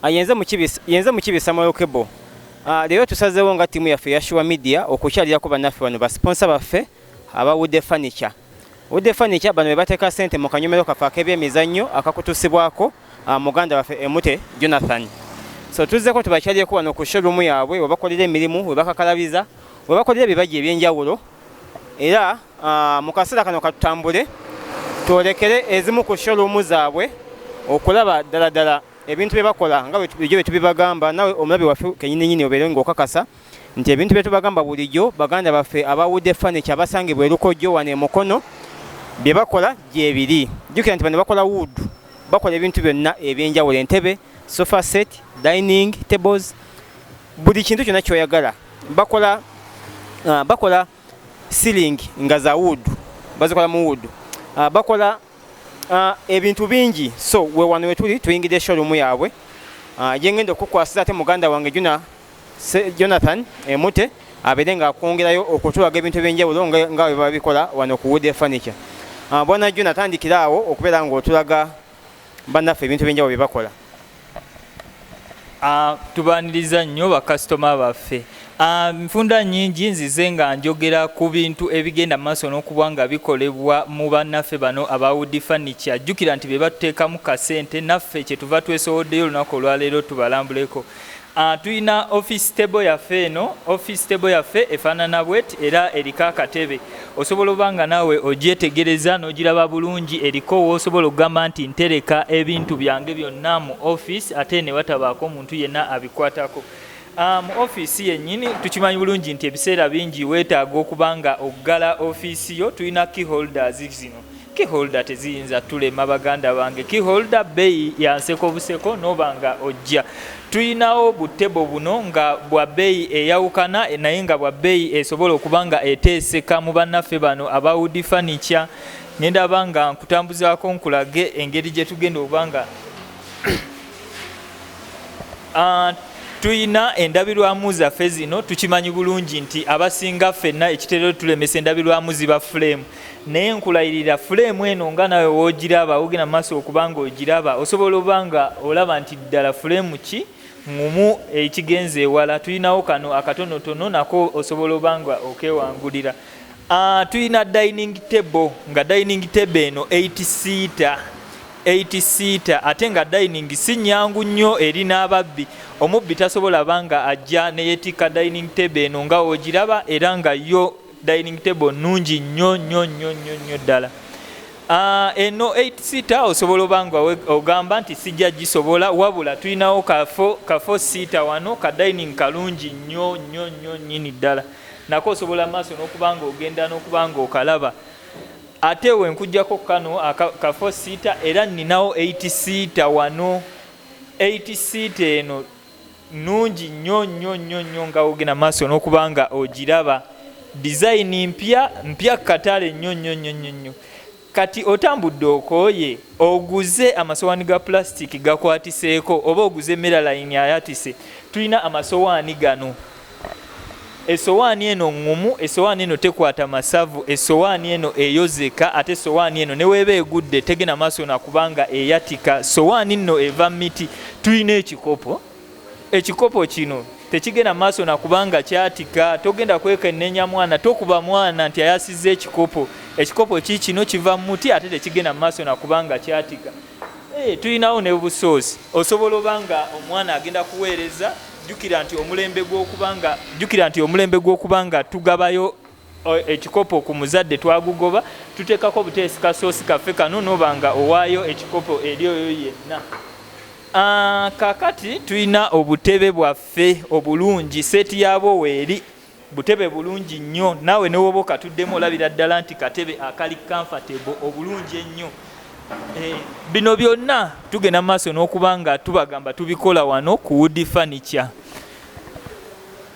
Ah, yenze mukibi yenze mukibi Samuel Kebo ah, leero tusazeewo nga ttiimu yaffe eya Sure Media okukyalirako bannaffe bano basiponsa baffe aba Wude Furniture Wude Furniture bano be bateeka ssente mu kanyomero kaffe ak'ebyemizannyo akakutusibwako ah, muganda waffe Emute Jonathan so tuzzeko tubakyalireko wano ku showroom yaabwe webakolera emirimu webakakalabiza webakolera ebibajje eby'enjawulo era Ah, mu kaseera kano katutambule twolekere ezimu ku showroom zaabwe okulaba ddala ddala ebintu bye bakola nga bulijjo bye tubibagamba nawe omulabi waffe kenyini nyini obeere ng'okakasa nti ebintu bye tubagamba bulijjo baganda baffe aba wude furniture basangibwa erukojjo wano emukono bye bakola gyebiri jjukira nti bano bakola wood bakola ebintu byonna ebyenjawulo entebe sofa set dining tables buli kintu kyonna kyoyagala bakola ah, bakola ceiling nga za wood bazikola mu wood uh, bakola uh, ebintu bingi so we wano wetuli tuyingidde showroom yaabwe uh, jengenda okukwasiza ate muganda wange juna Jonathan emute eh, abeere nga akwongerayo okutulaga ebintu ebyenjawulo nga webabikola wano ku wood furniture uh, bwana Jonathan atandikira awo okubeera nga otulaga bannaffe ebintu ebyenjawulo bye bakola ah, tubaniriza nnyo bakasitoma baffe ah, nfunda nnyingi nzize nga njogera ku bintu ebigenda mu maaso n'okuba nga bikolebwa mu bannaffe bano abawudi fanica jjukira nti be batuteekamu kasente naffe kye tuva twesowoddeyo olunaku olwaleero tubalambuleko Ah, tulina office table yaffe eno office table yaffe efaanana bwet era eriko akatebe osobola oba nga naawe ogyetegereza n'ogiraba bulungi eriko woosobola okugamba nti ntereka ebintu byange byonna mu office ate ne watabaako omuntu yenna abikwatako ah, mu ofiisi yennyini tukimanyi bulungi nti ebiseera bingi weetaaga okuba nga okuggala ofiisi yo tulina key holders zino Key holder teziyinza tulema baganda bange. Key holder beeyi ya nseko buseko noba nga ojja. Tuyinawo bu table buno nga bwa beeyi eyawukana naye nga bwa beeyi esobola okuba nga eteeseka mu bannaffe bano aba wood furniture. Ngenda aba nga nkutambuzaako nkulage engeri gye tugenda okuba nga ah, tuyina endabirwamu zaffe zino tukimanyi bulungi nti abasinga ffenna ekitero tulemesa endabirwamu ziba fulemu naye nkulayirira fuleemu eno nga nawe wogiraba wogenda maaso okubanga ogiraba osobola oba nga olaba nti ddala fuleemu ki ngumu ekigenza ewala tulinawo kano akatonotono nako osobola oba nga okewangulira ah, tulina dining table nga dining table eno 8 seata 8 seata ate nga dining si nyangu nnyo eri n'ababbi omubbi tasobola banga ajja neyetikka dining table eno nga wogiraba era nga yo dining table nungi nnyo nnyo nnyo nnyo nnyo ddala ah, eno 8 sita osobola oba nga ogamba nti sijja gisobola wabula tulinawo kafo sita wano ka dining kalungi nnyo nnyo nnyo nnyini ddala nako osobola maaso n'okuba nga ogenda n'okuba nga okalaba ate wenkujjako kano kafo sita era nninawo 8 sita wano 8 sita eno nungi nyo nyo nyo nyo nga ogenda maaso nokuba nga ogiraba dizayini mpya mpya katale nyo nyo nyo nyo nyo kati otambudde okooye oguze amasowaani ga pulasitiki gakwatiseeko oba oguze meralayini ayatise tulina amasowaani gano esowaani eno ngumu esowaani eno tekwata masavu esowaani eno eyozeka ate esowaani eno neweeba egudde tegena maaso nakubanga eyatika sowaani nno eva miti tulina ekikopo ekikopo kino tekigenda maaso nakubanga kyatika togenda kwekenenya mwana tokuba mwana nti ayasiza ekikopo ekikopo kikino kiva muti ate tekigenda maaso nakubanga kyatika Eh, tulinawo ne busoosi osobola oba nga omwana agenda kuweereza jukira nti omulembe gwokubanga jukira nti omulembe gw'okuba nga tugabayo eh, ekikopo ku muzadde twagugoba tuteekako obuteesi kasoosi kaffe kano noba nga owaayo ekikopo eri oyo yenna ah, kakati tulina obutebe bwaffe obulungi seeti yaabwo weeri butebe bulungi nnyo naawe newoba okatuddemu olabira ddala nti katebe akali comfortable obulungi ennyo eh, bino byonna tugenda mu maaso n'okuba nga tubagamba tubikola wano ku woodi furniture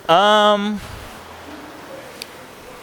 um,